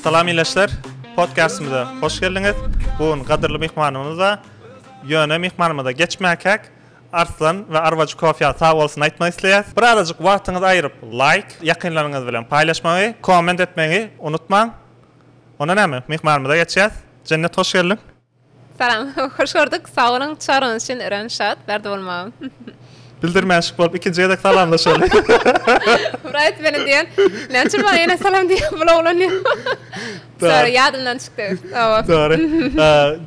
Salam ileçler, podcastymyza hoş geldiňiz. Bu gün gadyrly myhmanymyz bar. Ýöne myhmanymyza geçmäkäk Arslan we Arwaj Kofya sag bolsun aýtmak isleýär. Bir azajyk wagtyňyzy aýryp, laýk, ýakynlaryňyz bilen paýlaşmagy, komment etmegi unutmaň. Onda näme, myhmanymyza geçýäs. Jennet hoş geldiň. Salam, hoş gördük. Sag boluň, çagyryňyz üçin örän şat, bärde bolmagam. Bildirmänşik bolup ikinji gezek salamlaşaly. Wright meni diýen. Näçe maňa ýene salam diýip bulawlanýar. Sorry, ýadymdan çykdy. Hawa. Sorry.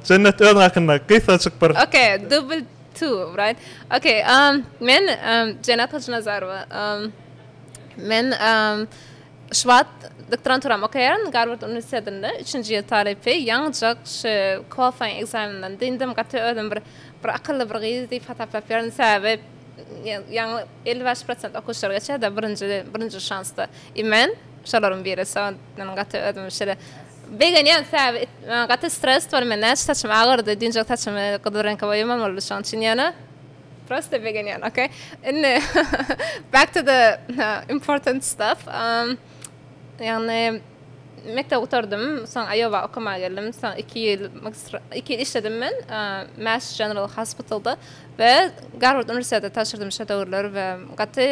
Jennet özüň hakynda gysgajyk bir. Ok, double two, wright. Ok, men Jennet Hajynazarowa. Men Şubat doktoranturam okaýaryn, Garward uniwersitetinde, üçünji ýyl talypy, ýaňyjak şu qualifying ekzameninden dyndym, gaty özümi bir bir akylly bir gyz diýip hasaplap ýörün, sebäbi ýaňy elli bäş prosent okuwçylar geçýärdi, birinji birinji şansda i men şolaryň biri, soň men gaty özümi şeýle begenýän, sebäbi gaty stres bor, men näçe saçym agyrdy, düýnjek saçymy gyzyl reňke boýamamaldy, şoň üçin ýöne Prosta begenýän, okey. Indi back to the important stuff. Um, ýagny mekdep gutardym, soň Aýowa okamaga geldim. Soň 2 ýyl magistra 2 ýyl işledim men uh, Mass General Hospitalda we Garward uniwersitetinde tabşyrdym şo döwürler we gaty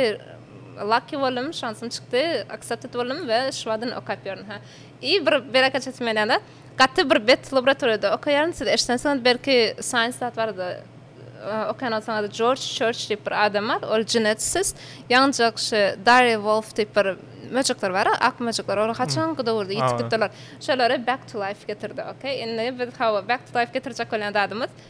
lucky boldum, şansym çykdy, accepted boldum we şu wagtdan okap ýörün. Ha. I bir bereketçisi menende. Gaty bir bet laboratoriýada okaýaryn. Siz eşidensiňiz belki Science zat barada okaýan bolsaňyz Jorj Çörç diýip bir adam bar. Ol jinetisist. Ýaňyjak şu Darýa Wolf diýip bir möjekler bar, ak möjekler. Olar haçanky döwürde ýitip gitdiler. Şolary back to life getirdi. Okey. Indi biz hawa back to life getirjek bolýan zadymyz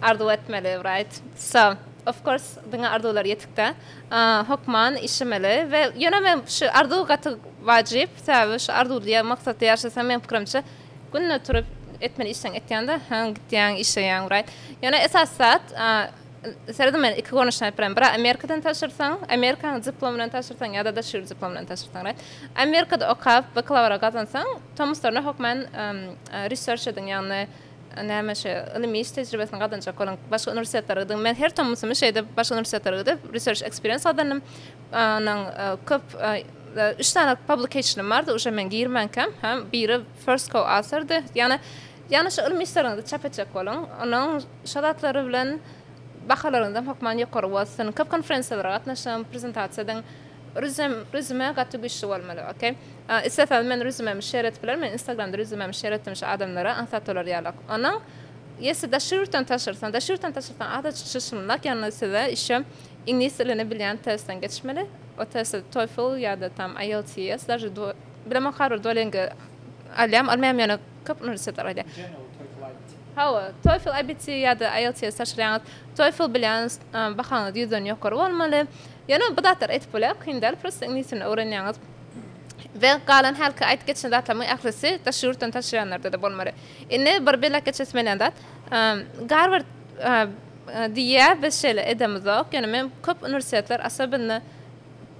Arzuw etmeli right so of course diňe arzuwlar ýetikde hokman işemeli we ýöne men şu arzuw gaty wajyp sebäbi şu arzuwly ýa maksatly ýaşasaň meň pikirimçe günde turup etmeli işleň etýäňde haň gitýäň işleýäň right ýöne esasy zat seredin men iki görnüşini aýdyp bilerin biri amerikadan taşyrsaň amerikaň diplom bilen taşyrsaň ýa-da daşary ýurt diplom bilen taşyrsaň right amerikada okap bakalawra gazansaň tomuslarynda hokman research ediň ýagny Näme şu ylym iş tejribesini gazanjak bolan başga uniwersitetlere gidip, men her tomusym şeýde başga uniwersitetlere gidip research experience gazandym. Onuň köp üç sany publication bardy, uje men girmänkäm, hem biri first co authordy. Ýagny ýagny şu ylym işleriňizi çap etjek boluň, onuň şo zatlary bilen bahalaryňyzam hökman ýokary bolsun. Köp konferensiýalara gatnaşyň, prezentasiýa ediň. Rüzem rüzme gaty güçli bolmaly ok. Istesaňiz men rüzmemi şer edip bilerin men instagramda rüzmemi şer etdim şu adamlara aňsat olar ýalak onuň ýesi daş ýurtdan taşyrsaň daş ýurtdan taşyrsaň azajyk çyşmlak ýalnys size işe iňlis dilini bilýän testden geçmeli o testi toefl ýada tam ielts daže duo bilemok harbyr duolingo alýam almaýam ýöne köp uniwersitetler alýar. Hawa toefl ibt ýada ielts taşyrýaňyz toefl bilýäňiz bahaňyz ýüzden ýokary bolmaly. Ýöne bu zatlar edip bolýar, kyn däl, prosta iňlis dilini öwrenýäňiz we galan hälki aýdyp geçen zatlarymyň ählisi daşary ýurtdan taşyýanlarda-da bolmaly. Indi bir belläp geçesim gelýän zat, Garward diýýär, biz şeýle edemizok, ýöne men köp uniwersitetler, asobinno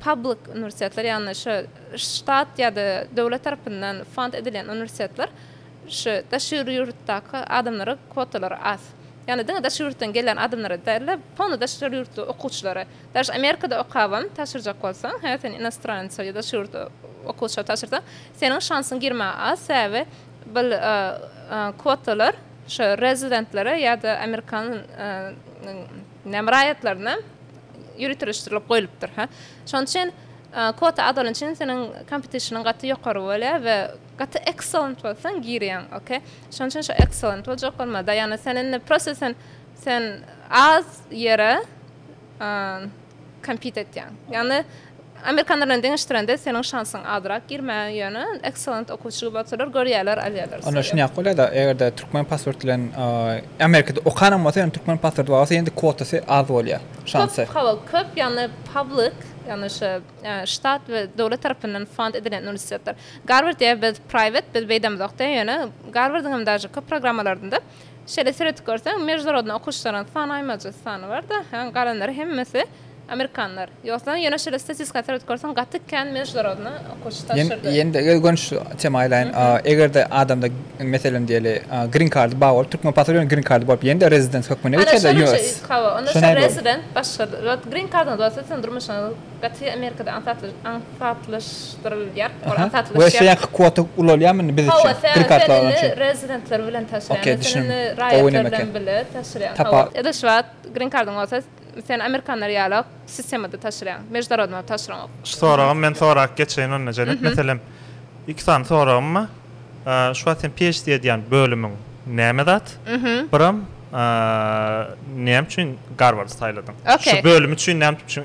public uniwersitetler, ýagny şo ştat ýa-da döwlet tarapyndan fond edilýän uniwersitetler, Şu daşyr ýurtdaky adamlara kwotalar az. Ýagny diňe daşyr ýurtdan gelen adamlara däl-de, polny daşyr ýurtly okuwçylara. Daş Amerikada okabam tabşyrjak bolsaň, hä sen inostranca ýa daşyr ýurtly okuwça tabşyrsaň, seniň şansyň girmäge az, sebäbi bul kwotalar şu rezidentlere ýa-da amerikan näme raýatlaryna ýöriteleşdirilip goýlupdyr, hä. Şonuň üçin kwota az bolan üçin seniň kompetişiniň gaty ýokary bolýar we Gaty excellent bolsaň girýäň ok şoň üçin şo excellent boljak bolma Diana sen indi prosta sen sen az ýere compete etýäň ýagny amerikanlar bilen deňeşdirende seniň şansyň azrak girmäge ýöne excellent okuwçy gibi bolsalar görýärler alýarlar seni. Onda şunyap bolýada egerde türkmen pasport bilen amerikada okanyň bolsa ýöne türkmen pasporty bar bolsa ýene-de kwotasy az bolýar şansy. Köp hawa köp ýagny public ýagny şu ştat we döwlet tarapyndan fund edilen uniwersitetler Garward diýýär biz private biz beýdemizokda ýöne Garwardyň hem daža köp programmalarynda şeýle seredip görseň meždunarodny okuwçylaryň sany aýmajy sany barda ýöne galanlary hemmesi amerikanlar ýogsa ýöne şeýle statistika seredip görseň gaty kän meždunarodny okuwçy tabşyrdy. Ýene-de gel gönüş tema aýlaýyn egerde adamda meselem diýeli green kardy bar bolup türkmen pasporty bilen green kardy bolup ýene-de rezident hökmüne geçerler US. Hawa onda şo rezident başga zat green kardyňyz bolsa siziň durmuşyňyz Gaty Amerikada aňsatlaşdyrylýar. Ol aňsatlaşýar. We şeýle kwota ulalýarmy indi biz üçin? Gry kartly alany üçin. Rezidentler bilen taşlaýan. Sen indi raýatlar bilen bile taşlaýan. Hawa. Ýa-da şu wagt grin kardyň bolsa, sen amerikanlar ýalak sistemada taşlaýaň. Meždarodnoý taşlaňok. Şu soragy men sorap geçeýin onda Jenet. Meselem, iki sany soragym bar. Şu wagt sen PHD edýän bölümiň näme zat? Brom näme üçin Garwardy saýladyň? Şu bölüm üçin näme üçin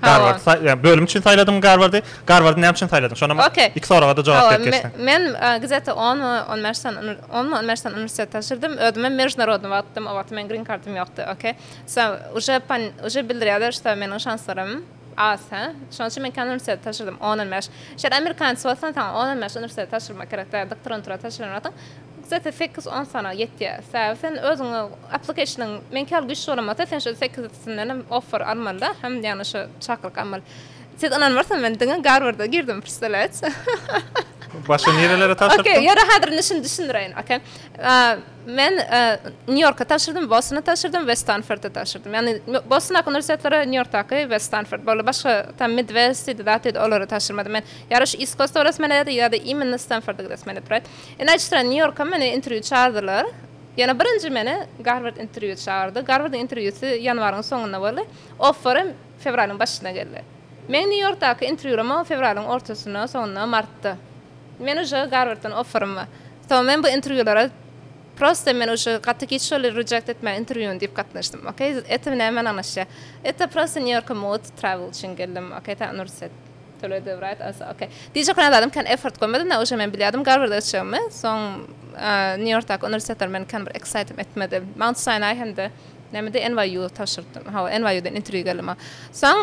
Garwardy saýladyň? Bölüm üçin saýladyňmy Garwardy? Garwardy näme üçin saýladyň? Şonam iki soraga-da jogap berip geçseň. Men gzet-a on my on bäş sany on my on bäş sany uniwersitet tabşyrdym. Özümem mejnarodnyý wagtdym. O wagtam meniň grin kardym ýokdy. Okey. Uje bildirýärler, şda meniň şanslarym. Az, hä? Şonuň üçin men kän uniwersitete tabşyrdym, on, on bäş. Şeýle amerikanec bolsaň, saňa on, on bäş uniwersitete tabşyrmak gerek däl, doktorantura tabşyran wagtyň gusata sekiz, on sany ýetýär. Sebäbi sen özüňe application-yň meňki ýaly güýçli bolan bolsa, sen şol sekizisinden-em offer almaly-da, hem ýagny şu çakylyk almaly. Siz ynanmarsyňyz, men diňe Garwarda girdim, prsdalýaýeç. Başga nirelere tabşyrypdyň? Okey, ýöre häzir düşündireýin, okey. Men Nýu-Ýorka tabşyrdym, Bostona tabşyrdym we Stanforda tabşyrdym. Ýagny Bostondaky uniwersitetleri, Nýu-Ýorkdaky we Stanford boldy. Başga tam Midwest diýdi, zat diýdi, olara tabşyrmadym. Men ýa-da şu East Coast-a gidesem gelýärdi, ýa-da imенно Stanforda gidesem gelýärdi, right? Indi aýdyşdyran Nýu-Ýorka meni interwýu çagyrdylar. Ýöne birinji meni Garward interwýu çagyrdy. Garwardyň interwýusy ýanwaryň soňunda boldy. Offerem fewralyň başynda geldi. Meň Nýu-Ýorkdaky interwýulamam fewralyň ortasynda, soňunda, martda. Men uje Garwarddan offerim bar. Soň men bu interwýulara prosta men uje gaty giç şol reject etmäň interwýuny diýip gatnaşdym ok eto näme bilen ganaşýar eto prosta nýu ýorka mugt travel üçin geldim ok ta uniwersitet töledi write also ok diýjek bolan zadym kän effort goýmadym da uje men bilýärdim garwarda geçjegimi soň nýu ýorkdaky uniwersitetler meni kän bir excitem etmedi mount sinai hem-de nämede nyu tabşyrypdym hawa nyudan interwýu geldi maňa soň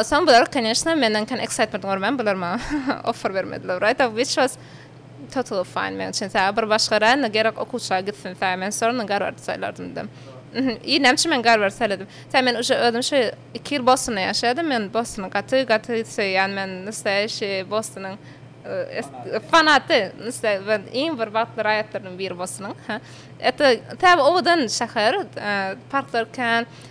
soň bular konýeşna menden kän excitement görmän bular maňa offer bermediler write up which was Total fine meň üçin saga bir başga rayona gerek okuwçylar gitsin saga men sorony garward saýlardym da i näme üçin men garward saýladym saga men uje özüm şu iki ýyl bostonda ýaşadym men bostony gaty gaty söýýän men nastaýaşi bostonyň fanaty nastaýaşi iň bir bagtly raýatlarynyň biri bostonyň ha ete täze owadan şäher parklar kän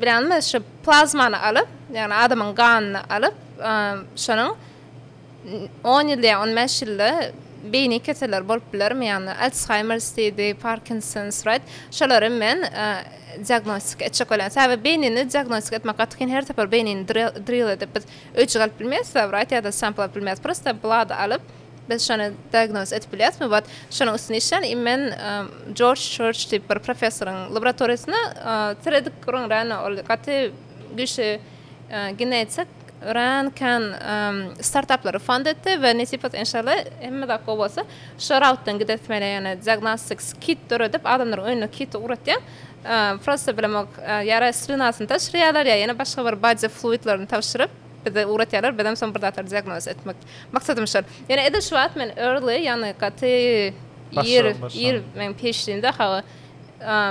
Bilenmi, şu plazmany alyp, ýagny adamyň ganyny alyp, şonuň on ýylda ýa on bäş ýylda beýni keseller bolup bilermi, ýagny Alsheimers diýdi, Parkinsons, Rett, şolary men diagnostika etjek welin. Sebäbi beýnini diagnostika etmek gaty kyn, her sapar beýnini drill edip biz öýjük alyp bilmeýäs, wraýt ýa-da sampl alyp bilmeýäs, prosta blad alyp, Biz şony diagnoz edip bilýäsmi? Wat şonuň üstüne işlän i men Jorj Çörç diýip bir professoryň laboratoriýasyna seredip gürrüň örän ol gaty güýçli genetik örän kän startaplary fond etdi we nesip enşalla hemme zat gowy bolsa şo rautdan gidesi mele ýöne diagnostics kit döredip adamlaryň öýüne kit ugratýaň prosta bilemok ýara slynasyny tabşyrýarlar ýa ýene başga bir body fluidlerini tabşyryp bize ugratýarlar bizem soň bir zatlar diagnoz etmek Maksadym şol. Ýöne edil şu wagt men early, ýagny gaty ir, ir meň PHD-mi de hawa.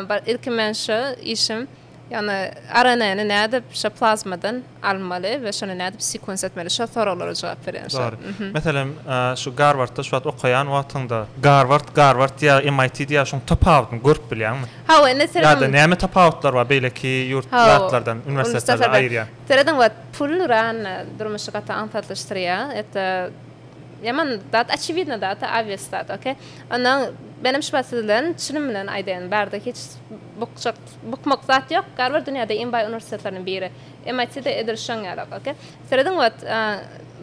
Bar, ilki men şu işim, ýagny RNA-ny nädip şu plazmadan almaly we şony nädip sequence etmeli, şol soraglara jogap berýän şu wagt. Dogry. Meselem, şu Garwardda şu wagt okaýan wagtyňda, Garward, Garward diýýä, MIT diýýä, şoň tapawudyny görüp bilýäňmi? Hawa, indi seredip. Ýa-da näme tapawutlar bar beýleki ýurt, zatlardan, uniwersitetlerden aýyrýan? Serediň wagt pul ran durmuşy gaty aňsatlyşdyrýa eta ýaman zat oçewidno da ata obvious zat ok onda menem şu wagt siz bilen çynym bilen aýdaýyn barde hiç bukjak bukmak zat ýok garward dünýäde iň baý uniwersitetleriniň biri MIT de edil şoň ýalak ok serediň wagt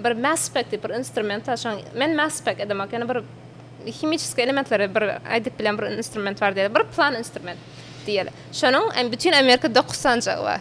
bir mass spec diýip bir instrument bar şoň men mass spec edem ok ýöne bir himiçeskiý elementleri bir aýdyp bilen bir instrument bar diýeli bir plan instrument diýeli şonuň bütin amerika dokuz sanjagy bar.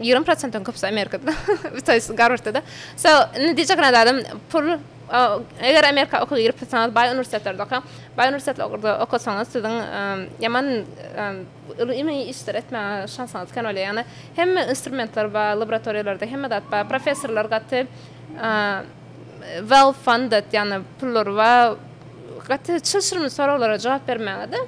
Ýigrimi prosentden köpüsi Amerikada, birtahysy Garwardda-da. So, indi diýjek zat adam pul, eger Amerika okuwa girip gitseňiz, baý uniwersitetlerde okaň. Baý uniwersitetlarda okasaňyz, siziň ýaman ylmy işleri etmäge şansyňyz kän bolýar. Ýagny hemme instrumentler bar, laboratoriýalarda hemme zat bar. Professorlar gaty well funded, ýagny pullary bar. Gaty çylşyrymly soraglara jogap bermäge-de.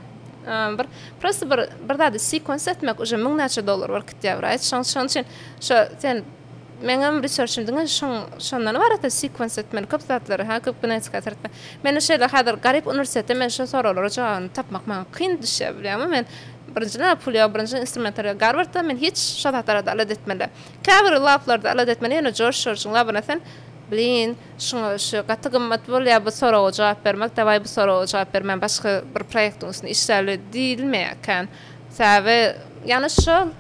Bir prosta bir bir zady sequence etmek uje müň näçe dollar bir kitýä wraýç. Şoň şoň üçin şo sen meňem researchim diňe şoň şondan ibarat da sequence etmeli köp zatlary ha köp genetika etme. Meni şeýle häzir garyp uniwersitete men şo soraglara jogabyny tapmak maňa kyn düşýär bilýäňmi men birinjiden pul ýok birinjiden instrumentler ýok garwardda men hiç şo zatlara da alet etmeli. Käbir lablarda alet etmeli ýöne Josh Jorjyň labyna sen blin Şuňa şu gaty gymmat bolýar bu soraga jogap bermek dawaý bu soraga jogap ber men başga bir proýektiň üstünde işläli diýilmeýär kän sebäbi ýagny şol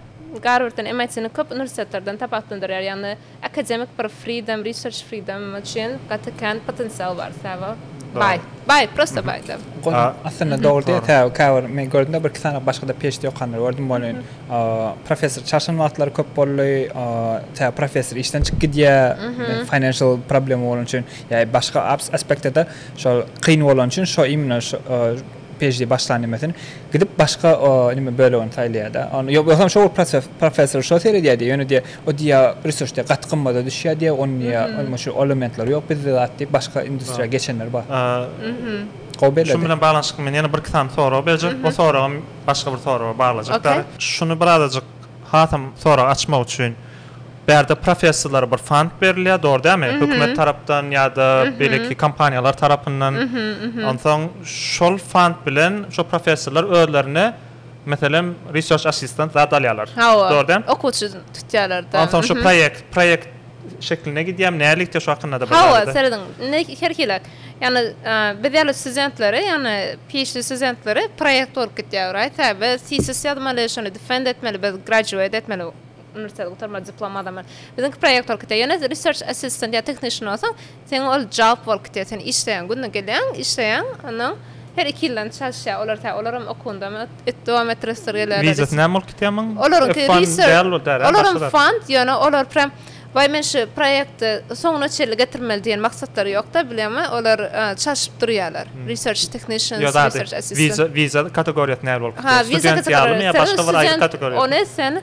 Garwarddan MIT-ni köp uniwersitetlerden tapawutlandyrýar ýagny akademik bir freedom research freedom üçin gaty kän potensial bar sebäbi baý baý prosta baý da. Aslynda dogry diýýär sebäbi käbir men gördümde bir iki sany başgada PHD okanlary gördüm ony Professor çaşan wagtlary köp boldy. Tä professor işden çykyp gidýär. Financial problem bolan üçin ýa başga aspektde şol kyn bolan üçin şo imенно şo PhD başlan nimesin gidip başga nime bölegini saýlaýar-da. Ony ýok bolsa şo professor şo seredýär-de, ýöne diýýär, o diýýär research diýýär gaty gymmada düşýär diýýär, ony diýýär, ony şu elementleri ýok bizde zat diýip başga industriýa geçenler bar. Gowy beledi. Şunuň bilen baglanyşykly men ýene bir iki sany sorag berjek. Bu soragym Başga bir soraga baglajykdyr. Şuny birazajyk hasam soragy açmak üçin, bärde professorlara bir fond berilýär, dogry dälmi? Hökümet tarapdan ýa-da beýleki kompaniýalar tarapyndan. Onsoň şol fond bilen şo professorlar özlerine, meselem, research assistant zat alýarlar. Hawa. Dogry dälmi? Okuwçy tutýarlar-da. Onsoň şo proýekt, proýekt. şekline gidýär. Nälikde şu hakynda-da bir zady. Hawa, serediň. Indi her hili. Ýagny biz ýaly studentleri, ýagny PHD studentleri proýekt bolup gidýär oraý. Sebäbi tesis ýazmaly, şony defend etmeli, biz graduate etmeli, uniwersiteti gutarmaly, diplom alamaly. Biziňki proýekt bolup gidýär. Ýöne research assistant ýa technician bolsaň, Sen ol jawp bol kite sen işleýäň günde gelýäň işleýäň ondan her iki ýyldan çalyşýa olar tä olaram okuwyndamy öt dowam etdiresdir gelýärler is Wizasy näme ol kitemyň olaryňky F-fund reser däl bu däl-ä olar başga zat. fund ýöne olar prýam waý men şu proýekti soňuna çenli getirmeli diýen maksatlary ýokda bilýäňmi olar çalşyp durýalar research technicians Ýok ady research assistant wiza wiza kategoriýasy nähili bolup gitýär ha wiza student ýalymy ýa kategoriýasy başga bir aýry student kategoriýasy ony sen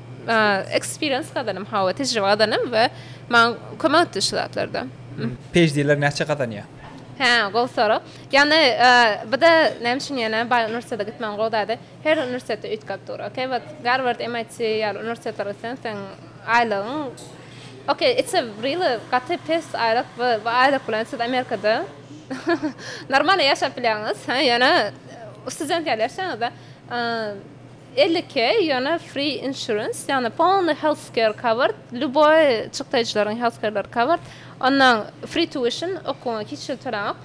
Eksperiens gazanym hawa tejribe gazanym we maň kömek etdi şu zatlarda. PHD-ler näçe gazanýar? Hä gowy sorag. Ýagny bda näme üçin ýene baý uniwersitete gitmegiň gowy zady her uniwersitetde üýtgäp dur okey wet Garward MIT ýaly uniwersitetler gitseň seň aýlygyň okey it's a really gaty pes aýlyk we bu aýlyk bilen siz Amerikada normalno ýaşap bilýäňiz hä ýöne student ýaly ýaşaýaňyzda Elli iki, ýöne free insurance, ýagny polny healthcare covered, lýuboý çykdaýjylaryň healthcareleri covered, onnoň free tuition, okuwyňa hiç hili töläňok.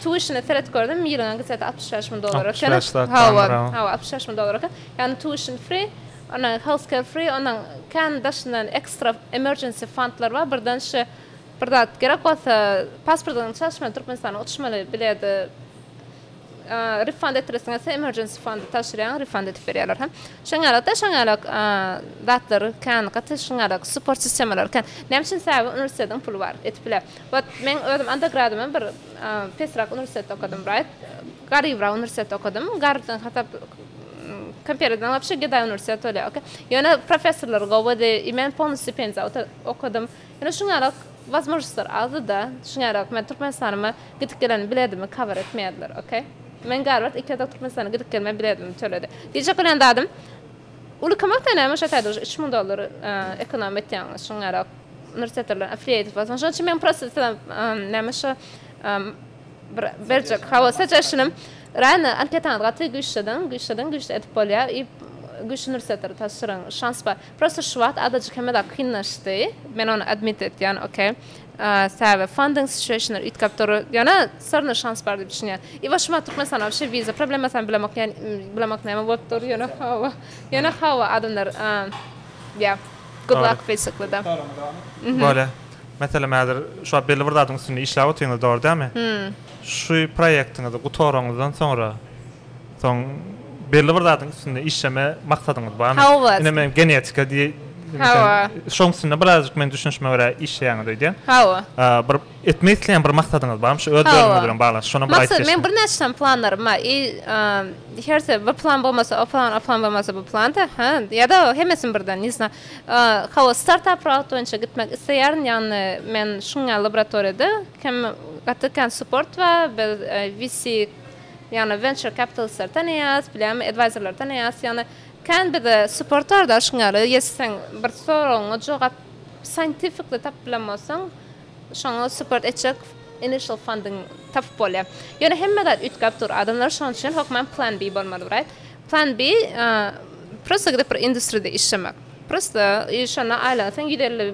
Tuitiona seret gördüm, ýylyňa gitse-de altmyş bäş müň dollar eken. Altmyş bäş zat Hawa, barmyr, hawa. hawa, altmyş bäş müň dollar eken. Ýagny tuition free, onnoň healthcare free, onnoň kän daşyndan ekstra emergency fondlar bar, birden şi bir zat gerek bolsa, pasportyňy çalyşmaly Türkmenistana uçmaly bileti Refund ettiresiň gelse emergency fund tabşyrýaň refund edip berýärler hem. Şoň ýaly da şoň ýaly zatlar kän gaty şoň ýaly support sistemalar kän. Näme üçin sebäbi uniwersitetiň puly bar edip biler. Wot men özüm undergradym hem bir pesrak uniwersitetde okadym right garybrak uniwersitetde okadym garybdan hasap kompereden wapşe gedaý uniwersitet bolýar okey. Ýöne professorlar gowudy i men polny stipendiýada okadym. Ýöne şuňarak wazmožnostlar azda-da, şuňarak men Türkmenistanyma gidip gelen biledimi kabar etmeýärler, ok. Men Garward iki gezek Türkmenistana gidip gelme biledimi töledi. Diýjek bolan zadym, uly kömekde näme şo taýda uje üç müň dollar ekonom etýäňiz, şuňarak uniwersitetlerden affiliated bolsaň, şonuň üçin men prosta size näme şo bir berjek, hawa suggestionym, raýony anketaňyzy gaty güýçlediň, güýçlediň, güýçli edip bolýar i güýçli uniwersitetleri tabşyryň, şans bar. Prosto şu wagt azajyk hemezat kynlaşdy. Men ony admit etýän, ok. Sebäbi funding situationlar üýtgäp dur. Ýöne sorna şans bar diýip düşünýän. I we şu wagt Türkmenistana wobşe wiza problemasyny bilemok, ýa bilemok näme bolup dur, ýöne hawa, ýöne hawa adamlar ýa good luck basically da. Bolýa. Meselem häzir şu wagt belli bir zadyň üstünde işläp otyrňyz dogry dälmi? Şu proýektiňizi gutaraňyzdan soňra. Soň belli bir zadyň üstünde işleme maksadyňyz barmy? Hawa. Ine men genetika diý. Hawa. Şoň üstünde birazjyk men düşünişime görä işleýäňiz öýdýän. Hawa. Bir etmek isleýän bir maksadyňyz barmy şu öz bölümiňiz bilen bagly? Şony bir aýdyp geçseňiz. Maksat men birnäçe sany planlarym bar. I hersi bir plan bolmasa o plan, o plan bolmasa bu plan da. Hä? Ýa-da hemmesini birden, ne zna. Hawa, startap rout boýunça gitmek isleýärin. Ýagny men şuňa laboratoriýada gaty kän support bar. Biz VC Ýagny venture capitalistleri tanaýas, bilemmi advisorlary tanaýas, ýagny kän bize support barda şuň ýaly ýa seň bir soragyňa jogap scientificly tapyp bilen bolsaň şoňa support etjek initial funding tapyp bolýar. Ýöne hemme zat üýtgäp dur. Adamlar şoň üçin hökman plan B bolmaly bir aýt. Plan B prosta gidip bir industride işlemek. Prosta şonda aýlansaň ýüz elli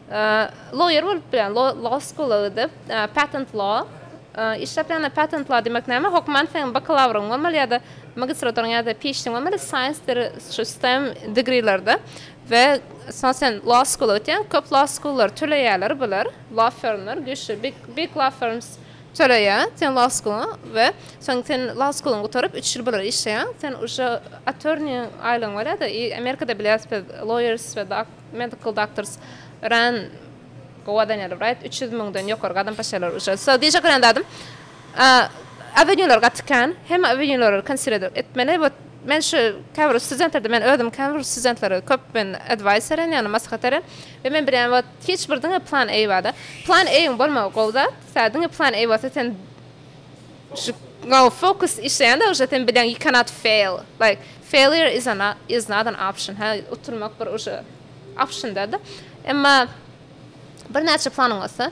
Lawyer bolup bilen law school a gidip patent law işlep ýagny patent law demek näme hokman seň bakalawryň bolmaly ýada magistraturyň ýada phd bolmaly science deri şu stem degreelerde we soň sen law school a gitýäň köp law school lar töleýäler bular law firmler güýçli big big law firms töleýär sen law school a we soň sen law school yň gutaryp üç ýyl bular işleýäň sen uje attorney aýlygyň bolýada i amerikada bilýäs biz lawyers we Medical doctors ran go a daniel right üç ýüz müňden ýokary gadam paşalar uçar so diýjek ran zadym awenýular gaty kän hemme awenýulary konsiredr etmeli we men şu käbir studentlerde men özüm käbir studentlere köp men edwaýs beren ýagny maslahat beren we men bilýän we hiç bir diňe plan a bada plan a-iň bolmagy gowy zat sä diňe plan a bolsa sen Go focus işleýände uje sen bileň you cannot fail like failure is an is not an option hä utulmak bir uje option dälde emma birnäçe planyň bolsa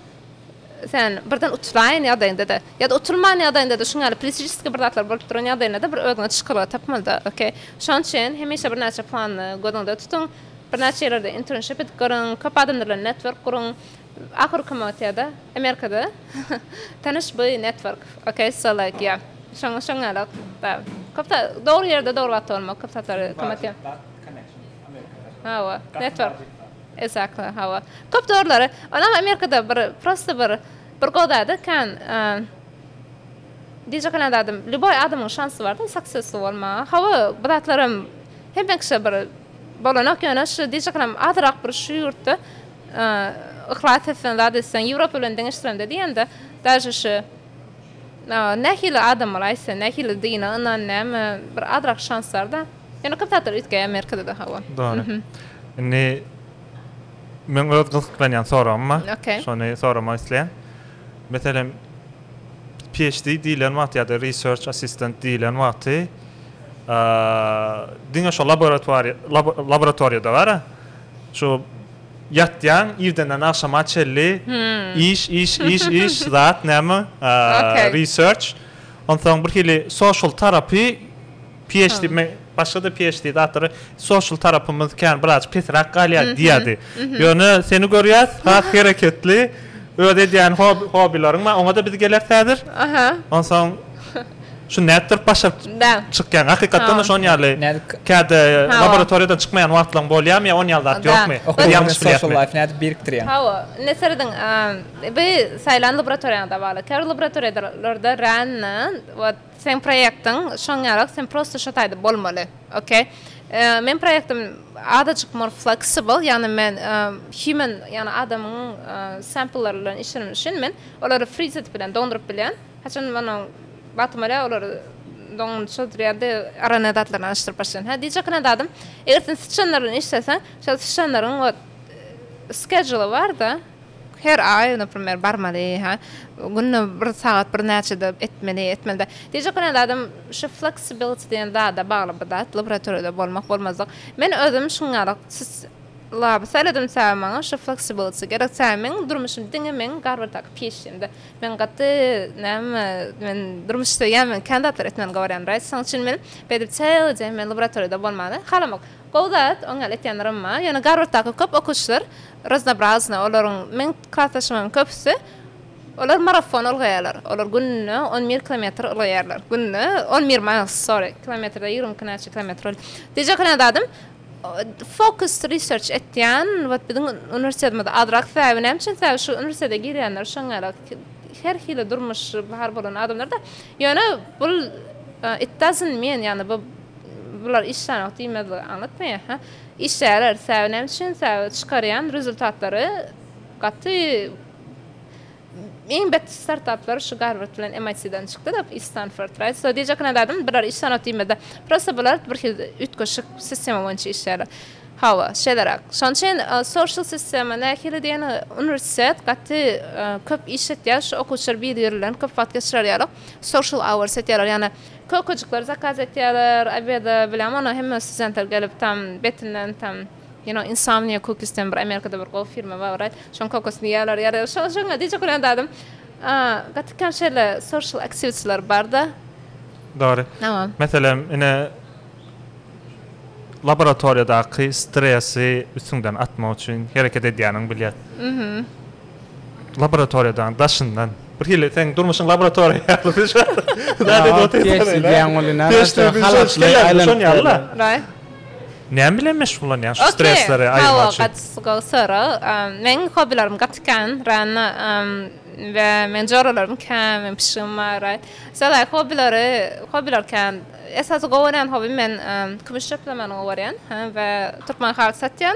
sen birden utulaýan ýagdaýyňdada ýada utulman ýagdaýyňdada şuň ýaly pritiçeski bir zatlar bolup duran ýagdaýyňdada bir özüňe çykalga tapmalyda ok şoň üçin hemişe birnäçe plany gözüňde tutuň birnäçe ýerlerde internship edip görüň köp adamlar bilen network guruň Ahyrky motýada Amerikada tanyş by network ok so like ýa şoň şoň ýaly ok bar köp zat dogry ýerde dogry wagtda bolmak köp zatlary kömetýär hawa network exactly hawa köp dogrylara onam Amerikada bir prosta bir bir gowy zady kan diyjek alan zadym lýuboý adamyň şansy barda saksesli bolmaga hawa bu zatlaram hemme kişä bir bolanok ýöne şu diyjek alam azyrak bir şu ýurtda Yhlas etseň zat etseň Ýewropa bilen deňeşdirende diýende daže şu nähili adam bolaý sen nähili dine ynan näme bir azrak şans barda ýöne köp zatlar üýtgeýär Amerikada da hawa. Dogry. Indi meň öz gyzyklanýan soragym bar. Okey. Şony soramak isleýän. Meselem PHD diýilen wagty ýa-da research assistant diýilen wagty diňe şo laboratoriýa laboratoriýada bara Şu ýatýaň irdenden agşama çelli iş iş iş iş zat näme research onsoň bir hili social tarapy PHD me başgada PHD zatlary social tarapymyz kän biraz pesräk galýar diýädi. Ýöne seni görýäs has hereketli öz edýän hobileriň bar oňada biz geler häzir. Onsoň Şu nätdirip başa çykýaň? Hakykatdan-da şonuň ýaly käte laboratoriýadan çykmaýan wagtlaryň bolýarmy ýa onuň ýaly zat ýokmy? Okuw ýalňyş bilýärmi? Nädip birikdirýäň? Hawa, indi serediň. Bu saýlan laboratoriýaňda bagly. Käbir laboratoriýalarda rände we seň proýektiň şoň ýaly, sen prosta şo taýda bolmaly. Okey. Meň proýektim azajyk more flexible, ýagny men human, ýagny adamyň samplelary bilen işlemeli üçin men olary frizit bilen doňduryp bilýän. Haçan onuň bagtym bolýar, olar doňuny çozdurýardy, ara ne zatlaryny alyşdyryp başlaýan. Hä, diýjek gynä zadym, eger sen syçanlar bilen işleseň, şol syçanlaryň ot skedžuly bar-da, her aý, naprimýer, barmaly, hä, günde bir sagat birnäçede etmeli, etmeli-de. Diýjek gynä zadym, şu fleksibiliti diýen zada bagly bu zat, laboratoriýada bolmak-bolmazlyk. Men özüm şuň ýaly sys laby seredimse, maňa şu fleksibiliti gerek. Sebäbi meniň durmuşym diňe meniň garbartak pişimde. Men gaty näme men durmuş söýýän men kän zatlar etmän gorýän raýs şoň üçin men beýdip çyly jeýim men laboratoriýada bolmany halamok gowy zat oň ýaly etýänler hem bar ýöne garwarddaky köp okuwçylar raznobrazny olaryň meň klasdaşlarymyň köpüsi olar marafon ylgaýarlar olar günde on bir kilometr ylgaýarlar günde on bir miles sorry kilometrde ýigrimi iki näçe kilometr bolýar diýjek kän zadym Focus research etýän wot biziň uniwersitetimiz azrak sebäbi näme üçin sebäbi şu uniwersitete girýänler şoňňarak her hili durmuşy bar bolan adamlarda ýöne bul it doesn't mean ýagny bu bular işlänok diýmezligi aňlatmaýar ha işleýärler sebäbi näme üçin sebäbi çykarýan rezultatlary gaty Iň bet startaplar şu Garward bilen MIT-den çykdy da iş Stanford right so diýjek ine zadym bular iş sanat diýmezde prosta bular bir hil üýtgeşik sistema boýunça işleýärler hawa şeýleräk şonuň üçin social sistema nähili diýen uniwersitet gaty köp iş etýär şu okuwçylar biri biri bilen köp wagt geçirer ýaly social hours etýärler ýagny kökejikler zakaz etýärler obeda bilen ony hemme studentler gelip tam betinden tam You know insomnia cookies diýen bir amerikada bir gowy firma bar right şoň kokosini ýýarlar ýarlar şoň şoňa diýjek bolýan zadym gaty kän şeýle social activitylar barda. Dogry. Meselem, ine, laboratoriýadaky stresi üstüňden atmak üçin hereket edýäniňi bilýär. Laboratoriýadaň daşyndan. Bir hili seň durmuşyň laboratoriýa ýaly diýip şo zat edip otyrsyň. Teşdir ýaly-la. Näme? Näme bilen meşgullanýaň şu stresleri aýyrmak üçin? Gaty gowy sorag. Meniň hobbilerim gaty kän. Rana we meniň joralarym kän, meniň pişigim bar. Şeýle hobbileri, hobbiler kän. Esasy gowy görýän hobbim men kümüş çöplemegini gowy görýän we türkmen haly satýan.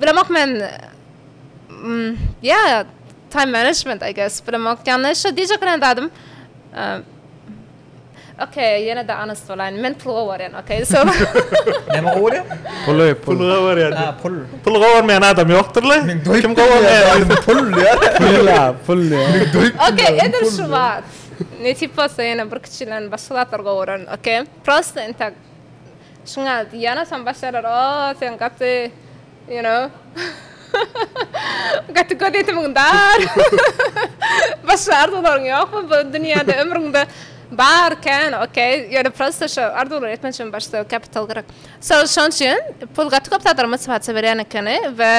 Bilemok men ýa time management I guess bilemok ýagny şo diýjek bolan zadym Okay, ýene de honest bolaýyn. Men pul gowarýan, okay. So. Näme gowarýan? Pul, pul gowarýan. Ha, pul. Pul gowarmaýan adam ýokdur la. Kim gowarýan? Pul ýa. Pul ýa, pul ýa. Okay, edil şu wagt. Ne tip bolsa ýene bir kiçilen başga zatlar gowaran, okay. Prosta entek. Şuňa ýanasam başarar o sen gaty you know gaty göz ýetimiň dar başga arzuwlaryň ýokmy bu dünýäde ömrüňde bar kän ok ýöne prosta şo arzuwlary etmek üçin başda kapital gerek so şoň üçin pul gaty köp zatlara motiwasiýa berýän ekeni we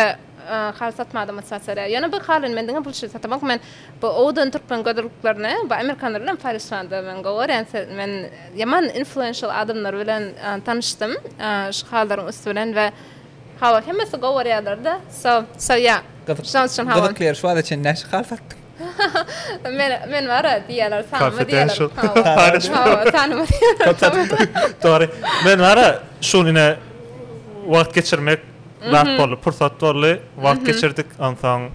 Haly satmaga mutsatsara. Ýöne bir halyny men diňe bulşy satamak men bu owdan türkmen gözelliklerini bu amerikanlar bilen paýlaşmanda men gowarýan men ýaman influenşal adamlar bilen tanyşdym şu halylaryň üsti bilen we hawa hemmesi gowarýarlarda so so ýa şonuň üçin hawa. Gyzykly ýeri şu wagta çenli näçe haly satdyň? Men men bara diýýärler tanyma diýýärler hawa tanyma diýýärler. Dogry men bara şu gün ine wagt geçirmek Bagt boldy, pursat boldy, wagt geçirdik. Onsoň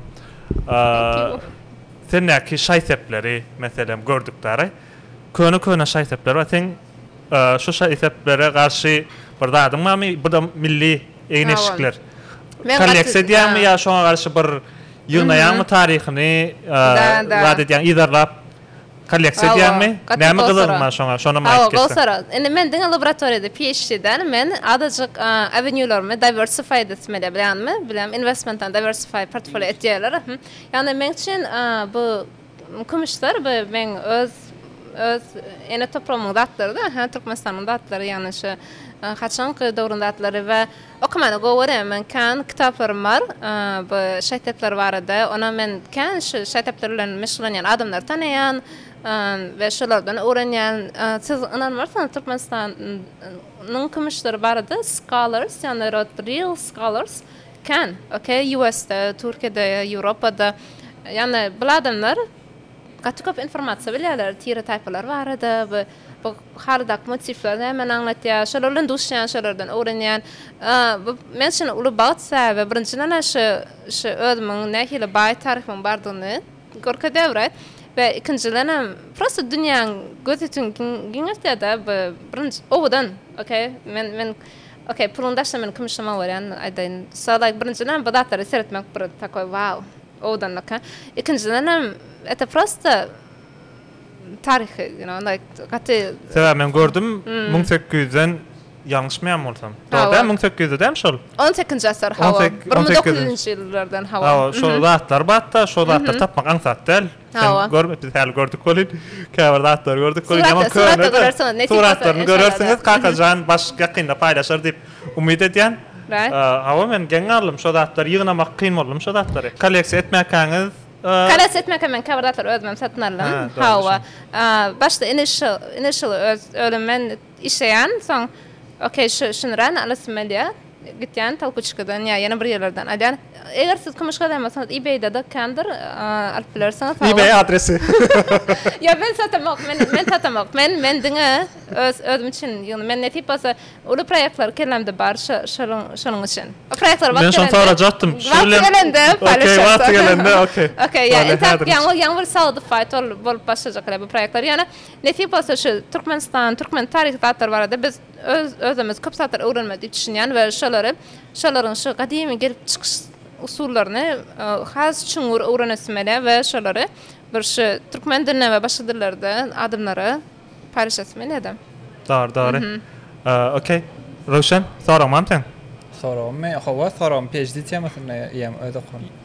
sendäki şaý-sepleri, meselem, gördük däri. Köne-köne şaý-sepler bar. Seň şu şaý-seplere garşy bir zadyň barmy? Bu da milli egin-eşikler. Kolleksiýa edýäňmi ýa şoňa garşy bir ýygnaýaňmy taryhyny, zat edýäňmi, yzarlap Kolleksiýa edýäňmi? Näme gyzyglyň bar şoňa? Şonam aýdyp geçseň. Hawa, gowy sorag. Indi men diňe laboratoriýada PHD däl, men azajyk avenue-larymy diversified etmeli ýa-da bilýäňmi, bilýän inwestmentlerini diversified portfolio et diýýärler. Ýagny meň üçin bu kümüşler bu meň öz öz ene topragymyň zatlary-da, Türkmenistanyň zatlary, ýagny şu haçanky döwrüň zatlary we Okamany gowy görýän. Meniň kän kitaplarym bar bu şaý-sepler barada. Onam men kän şu şaý-sepler bilen meşgullanýan adamlary tanaýan we şolardan öwrenýän. Siz ynanmarsyňyz Türkmenistan nyň kümüşleri barada scholars ýagny rod real scholars kän okey US-de, Türkiýede, Ýewropada ýagny bul adamlar Gaty köp informasiýa bilýärler tire-taýpalar barada we bu halydaky motifler nämeni aňlatýar, şolar bilen duşýan, şolardan öwrenýän. Bu men üçin uly bagt sebäbi birinjiden şu şu özümiň nähili baý taryhymyň bardygyny görkezýär bir aýt we ikinjidenem prosta dünýäň gözütin giňeltýärda bu birinji owadan ok men men ok puluňy daşla meniň kümüşim owarýan aýdaýyn sag laýk birinjiden bu zatlary seretmek bir takoý wow. Owadanlyka. Ikinjidenem eta prosta taryhy you know like gaty. Sebäbi men gördüm müň sekiz ýüzden ýalňyşmaýan bolsam. Dogry däl müň sekiz ýüzde dämi şol? On sekinji asyr hawa. Bir müň dokuz ýüzünji ýyllardan hawa. Hawa şol zatlar batda şol zatlary tapmak aňsat däl. Sen görmüp biz häli gördük bolin. Käbir zatlar gördük bolin. Ýaman köne. Suratlaryny görersiňiz. Kakajan baş ýakynda paýlaşar diýip umyt edýän. Hawa men geň galdym şo zatlary ýygnamak kyn boldum şo zatlary. Kolleksiýa etmäkäňiz Kolleksiýa etmäkä men käbir zatlary özümem satyn aldym. Hawa. Başda initial initial öz ölüm men Işleýän, soň okey şu şunran alasym gelýä, gitýän Tolkuçkadan ýa ýene bir ýerlerden alýan. Eger siz kümüş gazanmasaňyz ebay-da dakýandyr, alyp bilersiňiz. Sag boluň. Ebay adresi. Ýok men satamok, men men satamok. Men men diňe öz özüm üçin ýygna. Men nesip bolsa uly proýektler kellämde bar şo şonuň şonuň üçin. O proýektler wagt gelende. Men şony sorajatdym. Wagty gelende paýlaşarsyň. Okey wagty gelende okey. Okey ýa intäk ýaňy ýaňy bir sagdyn faýt bolup başlajak elbet proýektler. Ýöne Nesip bolsa şu Türkmenistan, türkmen taryhy zatlary barada biz öz özümiz köp zatlar öwrenmeli diýip düşünýän we şolary şolaryň şu gadymy gelip çykyş usullaryny has çuňňur öwrenesimele we şolary bir şu türkmen dilinde we başga dillerde adamlara paýlaşasymelede. Dogry dogry. Okey. Röwşen, soragyň barmy seň? Soragym, men hawa soragym PHD temasynda ýa öz okuwym.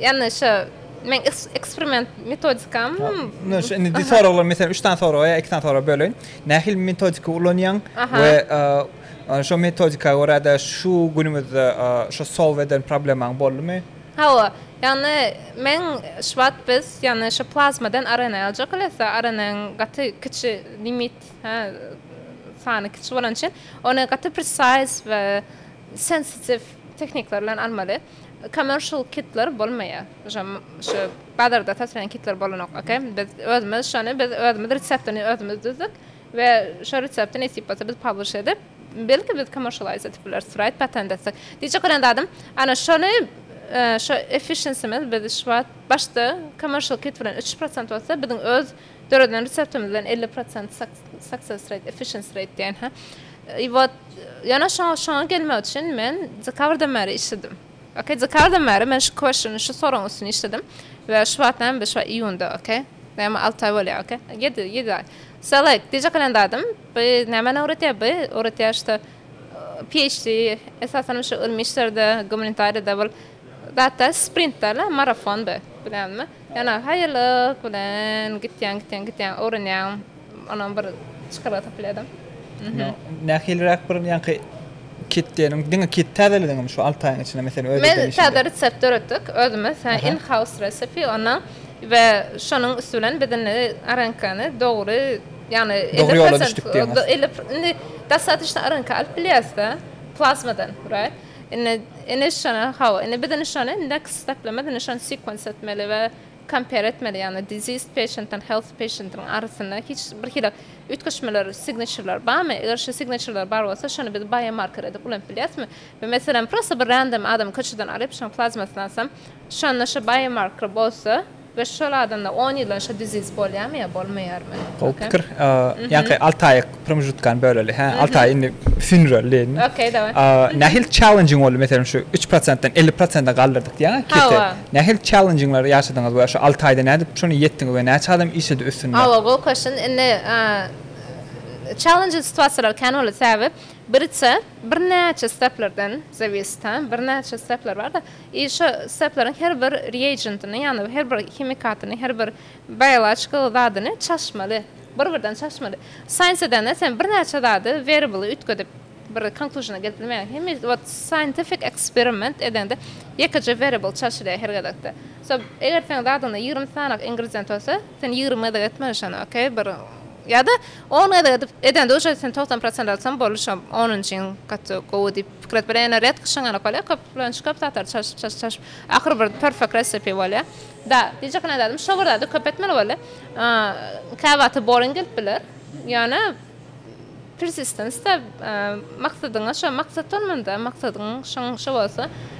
Ýani şo meň eksperiment metodikam. Indi şo indi soraglary meselem üç sany soraga ýa iki sany soraga böleýin. Nähili metodika ulanýaň we şo metodika görä-de şu günümizde şo solw eden problemaň boldumy? Hawa, ýani men şu wagt biz ýani şo plazmadan RNA aljak elbetde, RNA-nyň gaty kiçi limit hä sany kiçi bolany üçin ony gaty precise we sensitive tehnikler bilen almaly. Commercial kitler bolmaýar. Şo şu bazarda satylýan kitler bolanok. Okey. Biz özümiz şony biz özümiz reseptini özümiz düzdük we şo resepti nesip bolsa biz publish edip, belki biz commercialize edip bileris, right, patent etsek. Diýjek bolan zadym, ana şony şo efficiencymiz biz şu wagt başda commercial kit bilen üç prosent bolsa biziň öz Döreden reseptimiz bilen elli prosent success rate, efficiency rate diýen ha. I wot ýöne şoňa şoňa gelmek üçin men dekabrdan bäri işledim. Okey, dekabrdan bäri men şu questiony, şu soragyň üstüne işledim we şu wagt näme şu iýunda, okey. Näme alty aý bolýar, okey. Ýedi, ýedi aý. So like, dije kalendardym. Bu nämä öwretýär bu? Öwretýär şu PHD, esasanam şu ylmy işlerde, gumanitariyada bul. Gaty sprintdala marafonda bilenmi ýana haýallyk bilen gitýäň gitýäň gitýäň öwrenýäň onam bir çykalga tapylýada. Nähiliräk bir ýaňky ketdeniň diňe ket täzelediňmi şu alty aýyň içinde meselem öz eden işiňde. Täze resept döretdik özümiz in house recipe ondan we şonuň üsti bilen biz indi arankany dogry ýagny elli prosent indi dostatnyçna aranka alyp bilýäsda plazmadan right. Indi indi şona hawa indi biz indi şony next steplemez indi şony sequence etmeli we compare etmeli ýagny diseased patient and healthy patient'yň arasynda hiç bir hili üýtgeşmeler signature'lar barmy eger şu signature'lar bar bolsa şony biz biomarker edip ulanyp bilýäsmi we meselem prosta bir random adamy köçeden alyp şoň plazmasyny alsam şonda şu biomarker bolsa Göýş şol adamda on ýyldan şo diziz bolýarmy ýa bolmaýarmy? Gowy pikir. Ýaňky alty aýyk promžutkany böleli. Hä, alty aý indi sündüreli. Okey, daway. Nähili çellenjiň boldy? Meselem, şu üç prosentden elli prosente galdyrdyk diýýäňa kese. Nähili çellenjiňleri ýaşadyňyz we şu alty aýda nädip şony ýetdiňiz we näçe adam işledi üstünde? Hawa, gowy koşun. Indi çellenjli situasiýalar kän boldy. Sebäbi birçe, birnäçe steplerden zawisit, hä, birnäçe stepler bar-da. I. Şu sseplaryň her bir reagentini, ýagny her bir himikatyny, her bir biologikal zadyny çalyşmaly. Bir-birden çalyşmaly. Science edende sen birnäçe zady, variable-y üýtgedip, bir conclusion-a gelip bilmeýäň. Hemi, wot, scientific experiment edende ýekeje variable çalyşylýar her gezekde. So, eger seň zadyňda ýigrimi sanyk ingredient bolsa, sen ýigrimi gezek etmeli şony, okey, bir, ýa-da on gezek edip, edende uje sen togsan prosent alsaň boldy şo, onunjyň gaty gowy diýip. Pikir et, bir ene ret gyşyň alyp galýar, köp bilen şköp satar, çalşyp, çalşyp, çalşyp, ahyry bir perfect recipe bolýar. Da, diýjek ene zadym, şo bir zady köp etmeli boldy. Kä wagty boring gelip biler, ýöne persistence-da, maksadyňa, şo maksat bolmanda, maksadyň şoň şo bolsa,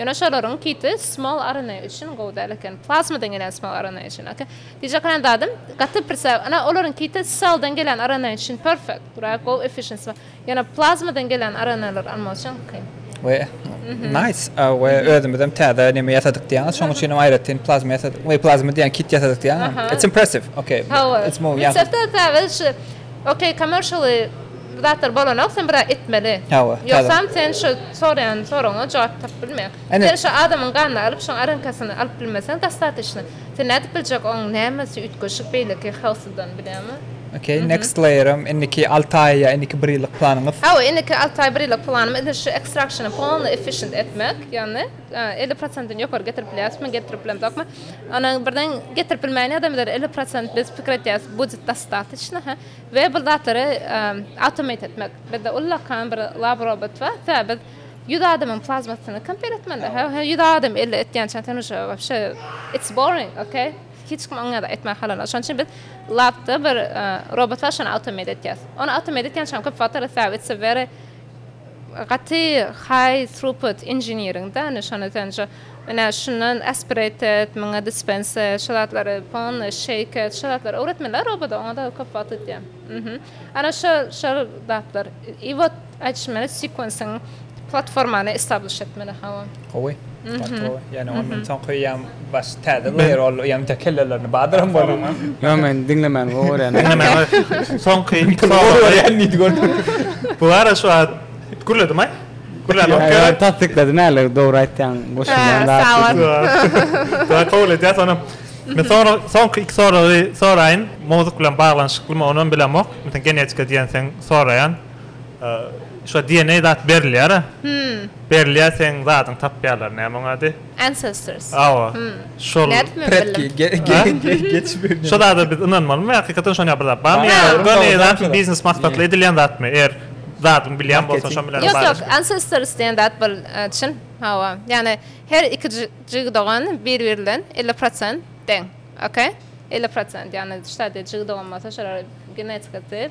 Ýöne şolaryň kiti small arena üçin gowy däl eken. Plasmadan gelen small arena üçin ok. Diýjek bolan zadym, gaty prisa, ine olaryň kiti celldan gelen arena üçin perfect, durag gowy efficiency bar. Ýöne plasmadan gelen arenalary almak üçin kyn. We nice, a we özümizem täze neme ýasadyk diýýäňiz, şonuň üçin hem aýratyn plasma ýasadyk, we plasma diýýän kit ýasadyk diýýäňizmi? It's impressive, ok, it's more, ýa. Microsoft-da täze şu, ok, commercially, Bu zatlar bolanok sen biraz etmeli. Hawa. Ýogsam sen şu soraýan soragyňa jogap tapyp bilmeýäň. Sen şu adamyň ganyny alyp şoň arankasyny alyp bilmeseň dostatişno. Sen nädip biljek oň nämesi üýtgeşik beýleki howsydan bilýäňmi? Okey next layerim indiki alty aý ýa indiki bir ýyllyk planyňyz? Hawa indiki alty aý bir ýyllyk planym edil şu extraction-y polny efficient etmek ýagny elli prosentini ýokary getirip bilýäsmi getirip bilemzokmy onuň birden getirip bilmäýen ýagdaýymyzda elli prosent biz pikir etýäs budjet dostatişno hä. We bir zatlary automate etmek. Bizde ullakan bir lab robot bar. Sebäbi biz ýüz adamyň plazmasyny kompýuter etmeli. He, ýüz adam elde etýänçä sen uje wobşe it's boring, okey? Hiç kim oňa ýada etmän halanok. Şonuň üçin biz labda bir robot bar, şony automate etýäs. Ony automate etýänçäm köp wagt alýar, sebäbi it's a very gaty high throughput engineering-da, indi şony sen uje Ine, şundan aspirated, muňa dispensed, şu zatlary polny şeýked, şu zatlary öwretmeliler obada, oňa-da köp wagt gidýär. Mhmm. Ana şol, şol zatlar. I wot aýdyşym ýaly sequensiň platformany establish etmeli, hawa. Gowy. Mhmm. Ýöne ondan soňky ýam baş täze layer ol ýam tä kellelerini badyran boldum. Ýok, men diňlemän gowy görýän. Diňlemän gowy. Soňky. Gowy görýän diýdi gördüňmi. Bu ara şu wagt gürledim-aý. Gülläniň kerek. Tassyklady näler dogry aýtýaň goşundan zat. Sawat. Kabul edýäs ony. Men soňra soňky iki soragy soraýyn. Mowzuk bilen baglanyşyklymy ony hem bilemok. Meselem genetika diýenseň soraýan. Şu DNA zat berilýär-ä. Berilýär seň zadyň tapýarlar näme oň ady. Ancestors. Hawa. Şol. Nädip men bildim? Predki. Şo zada biz ynanmalymy? Hakykatdan şon ýaly bir zat barmy? Ýa-da göni zatmy? Biznes maksatly edilýän zatmy? Eger zadyňy bilýän bolsaň şonuň bilen baglanyşykly. Ýok, ýok. Ancestors diýen zat bul çyn. Hawa. Ýagny her iki jigi dogan bir-biri bilen elli prosent deň. Okey? Elli prosent. Ýagny ştadyýe jigi dogan bolsa şolar genetika diýip.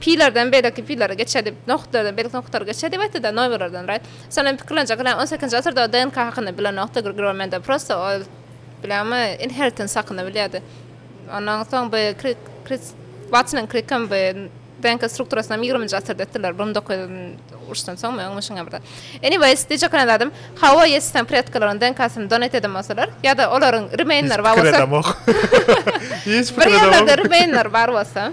Pilerden beýleki pilere geçeli, nohutlardan beýleki nohutlara geçeli diýipdi-de, noýberlerden raý. Şonda men pikirlenjek ýaly, on sekizinji asyrda ol DNK hakynda bilenokdy, Grigorian Mendel prosta ol, bilýäňmi, inheritance hakynda bilýärdi. Ondan soň bu Krik, Kris, Watson hem Krik hem bu DNK strukturasynam ýigriminji asyrda etdiler, bir müň dokuz ýüz uruşdan soňmy, öňmi şuňa birde. Anyways, diýjek ýaly zadym, hawa, ýesisem predkalaryň DNK-syny donate eden bolsalar, ýa-da olaryň remain-leri bar bolsa, Hiç pikir edemok. bir ýerlerde remain-leri bar bolsa,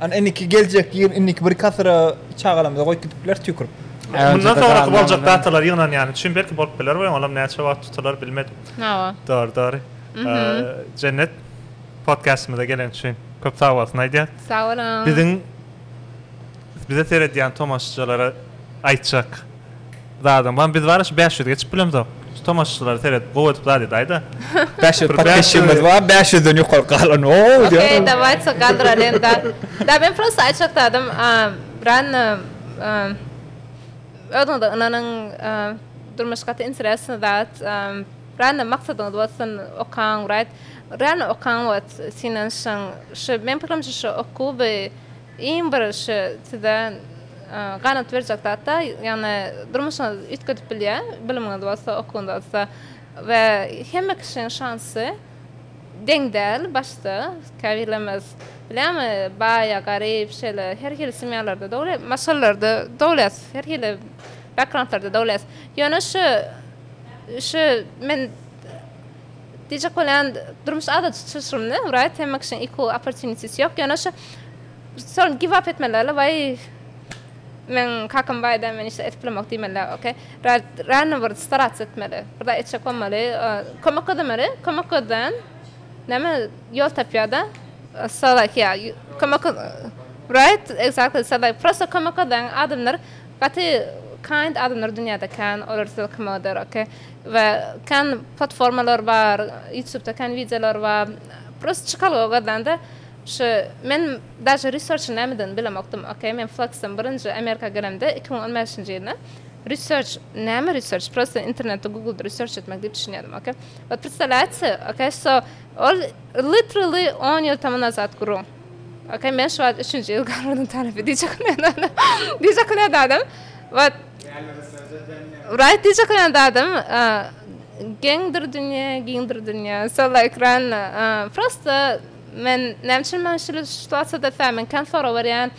Ana indiki geljek ýyl indiki birki asyra çagalarymyza goýup gidipler tüýkürip. Mundan soňraky boljak datalar ýygnan ýany üçin belki bolup biler we olam näçe wagt tutular bilmedim. Hawa. Dogry dogry. Jennet podkastymyza geleni üçin köp sag bolsun aýdýas. Sag boluň. Biziň bize seredýän tomaşaçylara aýtjak. Zadam bar biz bar şu bäş ýüz geçip bilemzok şu tomaşaçylara seredip gowy edip zat edaýda bäş ýüz podpisçimiz bar bäş ýüzden ýokary galan ow diýýär okey dawaýsa galdyralyň da da men prosta aýtjak zadym rano özüňize ynanyň durmuş gaty interesnyý zat rano maksadyňyz bolsun okaň wraýt rano okaň wagt synanyşyň şu men pikirimçe şu okuwy Iň birinji size ganat berjek zat-da, ýagny durmuşyňyz üýtgedip bilýär, bilimiňiz bolsa, okuwyňyz bolsa we hemme kişiniň şansy deň däl başda. Käbirlerimiz bilýärmi, baýa, garyp, şeýle her hili semýalarda dogulýar, maşgalalarda dogulýas, her hili backgroundlarda dogulýas. Ýöne şu, şu men. Diýjek bolýan durmuş adaty çylşyrymly right hemme kişiň equal opportunities ýok ýöne şu soň give up etmelilerle waý meň kakam baýda men işde edip bilemok diýmeliler ok rano bir starats etmeli bir zat etjek bolmaly kömek gözlemeli kömek gözleýän näme ýol tapýarda so like yeah kömek right exactly so like prosta kömek gözleýän adamlar gaty kind adamlar dünýäde kän olar size kömek eder ok. We kän platformalar bar ýutubda kän wideolar bar prosta çykalga gazanda şu men daže research nämeden bilemokdym ok men flexden birinji amerika gelemde iki müň on bäşinji ýylda research näme research prosta internetde googlda research etmek diýip düşünýärdim ok we predstawlýaýte ok so ol literally on ýyl tomu nazat guru ok men şu wagt üçünji ýyl garwadyň tarapy diýjek diýjek diýjek adam we Wraý diýjek bolýan zadym, geňdir dünýe, giňdir dünýe. Sola ekran. Prosta men näme üçin maňa şeýle situasiýada sämen kän sorag berýän,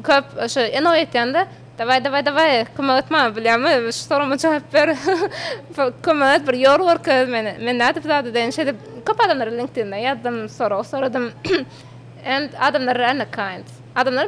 köp şo enoý etýän-de, Dawaý, dawaý, dawaý, kömek et maňa, bilýärmi, şu soragma jogap ber. Kömek et, bir ýol görkez meni. Men nädip bu zady edeýin? Şeýdip, köp adamlara LinkedIn-den ýazdym, sorag soradym. And adamlar rarely kind. Adamlar.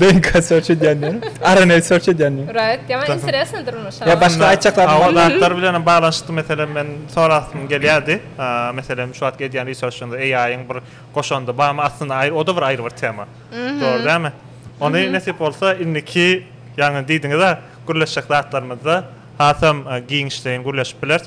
DNK search edýänler. RNA search edýänler. Right. Ýa men interesno durmuşa. Ýa başga aýtjaklar. Hawa zatlar bilenem baglanyşykly meselem men sorasym gelýärdi. Meselem şu wagtky edýän researchynda AI-yň bir goşandy barmy aslynda o da bir aýry bir tema. Dogry dälmi? Ony nesip bolsa indiki ýagny diýdiňizä gürleşjek zatlarymyzda hasam giňişleýin gürleşip bileris.